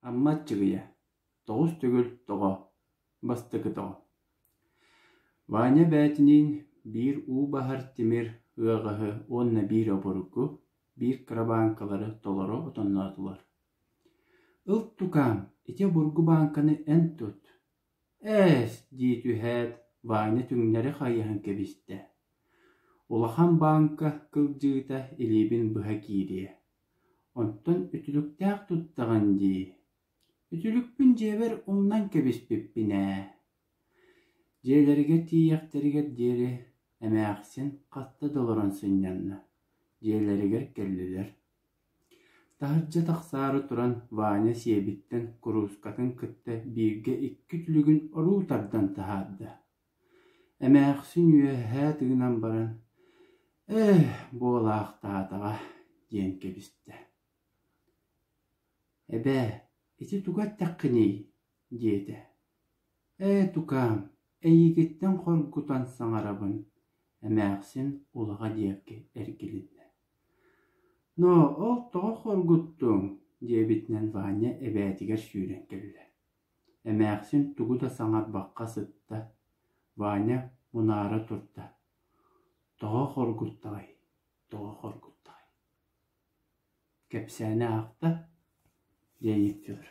Амма Аччыгыйа, тоҕус төгүл тоҕо, бастакы тоҕо. Ваня бээтиниин биир уу баһар тимир ыаҕаһы уонна биир обургу, биир кырабааҥкалары толору отонноотулар. «Ыл тукаам, ити обургу бааҥканы эн тут» Ээ-эс, дии түһээт, Ваня түҥнэри хайыһан кэбистэ. Улахан бааҥка кылдьыыта илиибин быһа киириэ, онтон үтүлүктээх туттаҕын дии, үтүлүкпүн дьиэбэр умнан кэбиспиппин ээ, дьиэлэригэр тиийиэхтэригэр диэри эмээхсин хатта да олорон сынньанна, дьиэлэригэр кэллилэр Таһырдьа тахсаары туран Ваня сиэбиттэн куруускатын кытта бииргэ икки түлүгүн оруу тардан таһаарда, эмээхсин үөһээ тыынан баран «Ээ, буолаахтаатаҕа» диэн кэбистэ. «Эбээ, ити тугу эттэххиний?» диэтэ. «Ээ, тукаам, эйиигиттэн хоргутан саҥарабын» эмээхсин улаҕа диэки эргилиннэ ноо ол тоҕо хоргуттуоҥ диэбитинэн Ваня эбээтигэр сүүрэн кэллэ эмээхсин тугу да саҥарбакка сытта Ваня мунаара турда тоҕо хоргуттаҕай тоҕо хоргуттаҕай кэпсээнэ аахта диэн икки өлөр